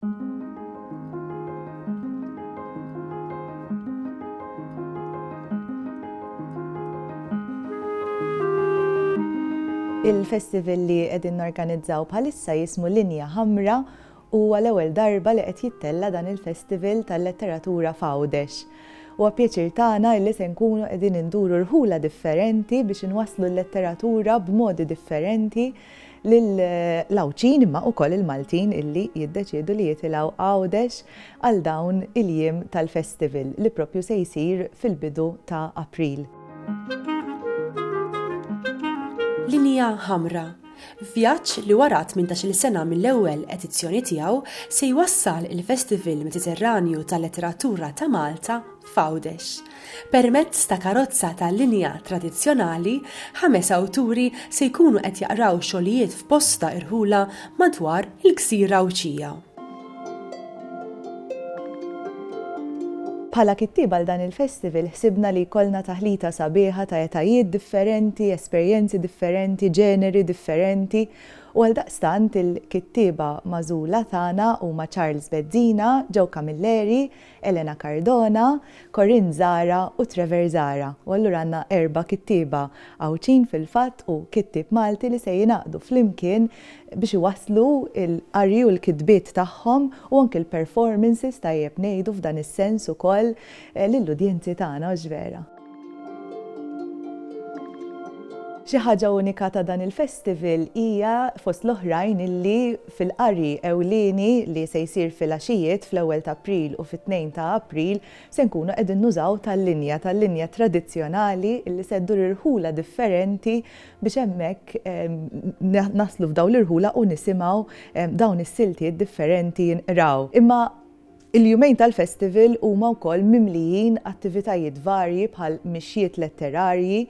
Il-festival li qegħdin norganizzaw bħalissa jismu Linja Ħamra u huwa l-ewwel darba li qed jittella dan il-festival tal-letteratura f'Għawdex. Huwa pjaċir tagħna li se nkunu qegħdin induru rħula differenti biex inwasslu l-letteratura b'modi differenti lill-Għawdxin imma ukoll il-Maltin illi jiddeċiedu li jitilgħu Għawdex għal dawn il-jiem tal-festival li proprju se jsir fil-bidu ta' April. Linja Ħamra, Vjaġġ li wara tmintax-il sena mill-ewwel edizzjoni tiegħu se jwassal il-Festival Mediterranju tal-Letteratura ta' Malta f'Għawdex. Permezz ta' karozza ta' linja tradizzjonali, ħames awturi se jkunu qed jaqraw xogħlijiet f'bosta irħula madwar il-Gżira Għawdxija. Bħala kittieb għal dan il-festival ħsibna li jkollna taħlita sabiħa ta' etajiet differenti, esperjenzi differenti, ġeneri differenti u għaldaqstant il-kittieba magħżula tagħna huma Charles Bezzina, Joe Camilleri, Elena Cardona, Corinne Zara u Trevor Zara, u allura għandna erba' kittieba Għawdxin fil-fatt u kittieb Malti li se jingħaqdu flimkien biex iwasslu l-qari u l-kitbiet tagħhom u anki l-performances tajjeb ngħidu f'dan is-sens ukoll lill-udjenzi tagħna, hux vera? Xi ħaġa unika ta' dan il-festival hija, fost l-oħrajn, illi fil-qari ewlieni li se jsir filgħaxijiet fl-ewwel ta' April u fit-tnejn ta' April se nkunu qegħdin nużaw tal-linja, tal-linja tradizzjonali illi se ddur irħula differenti biex hemmhekk naslu f'dawn l-irħula u nisimgħu dawn is-siltiet differenti jinqraw. Imma Il-jumejn tal-festival huma wkoll mimlijin attivitajiet varji bħal mixjiet letterarji,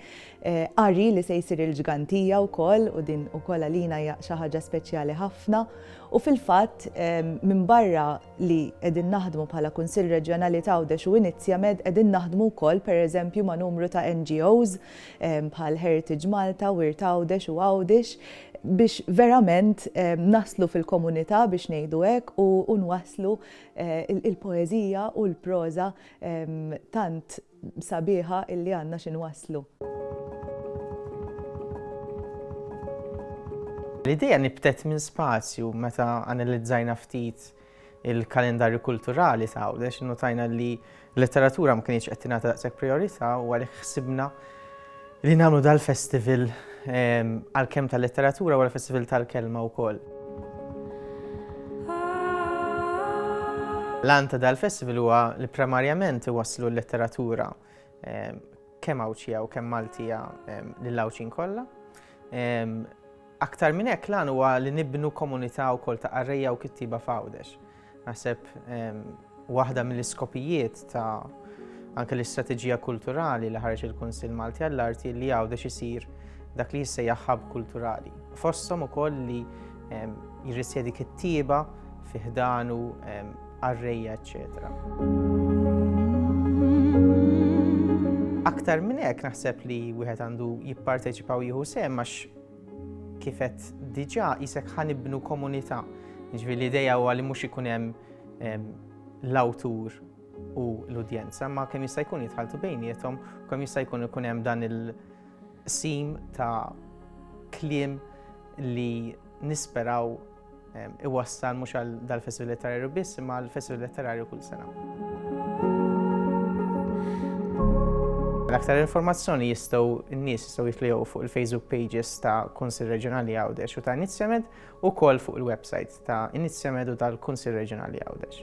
qari li se jsir il-Ġgantija wkoll u din ukoll għalina hija xi ħaġa speċjali ħafna u fil-fatt minbarra li qegħdin naħdmu bħala Kunsill Reġjonali t'Għawdex u Inizjamed qegħdin naħdmu wkoll pereżempju ma' numru ta' NGOs bħal Heritage Malta, Wirt Għawdex u Għawdex biex verament naslu fil-komunità biex ngħidu hekk u nwasslu l-poeżija u l-proża tant sabiħa li għandna xi nwasslu. L-idea nibtet minn spazju meta analizzajna ftit il-kalendarju kulturali ta' Għawdex, innutajna li l-letteratura ma kienx qed tingħata daqshekk priorità u għalhekk ħsibna li nagħmlu dal-festival ehm, għal-kemm tal-letteratura u għal-festival tal-kelma wkoll. L-għanta dal-festival huwa li primarjament waslu l-letteratura ehm, kemm Għawdxija u kemm Maltija ehm, lill-Għawdxin kollha. Ehm, Aktar minn hekk, l-għan huwa li nibnu komunità wkoll ta' qarrejja u kittieba f'Għawdex. Naħseb waħda mill-iskopijiet ta' anke l-istrateġija kulturali li ħareġ il-Kunsill Malti għall-Arti li Għawdex isir dak li jissejjaħ ħabb kulturali. Fosthom ukoll li jirrisjedi kittieba fi ħdanu qarrejja, eċċetera. Aktar minn hekk naħseb li wieħed għandu jipparteċipa u jieħu sehem għax Kif qed diġà isek ħa nibnu komunità. Ġifieri l-idea huwa li mhux ikun hemm l-awtur u l-udjenza, ma kemm jista' jkun jitħaltu bejniethom, kemm jista' jkun ikun hemm dan il-sim ta' kliem li nisperaw iwassal mhux għal dal-Festival Letterarju biss imma għal Festival Letterarju kull sena. L-aktar informazzjoni jistgħu n-nies jistgħu jitlejgħu fuq il-Facebook pages ta' Kunsil Reġjonali Għawdex u ta' Inizjamed u kol fuq il-website ta' Inizjamed u tal-Kunsil Reġjonali Għawdex.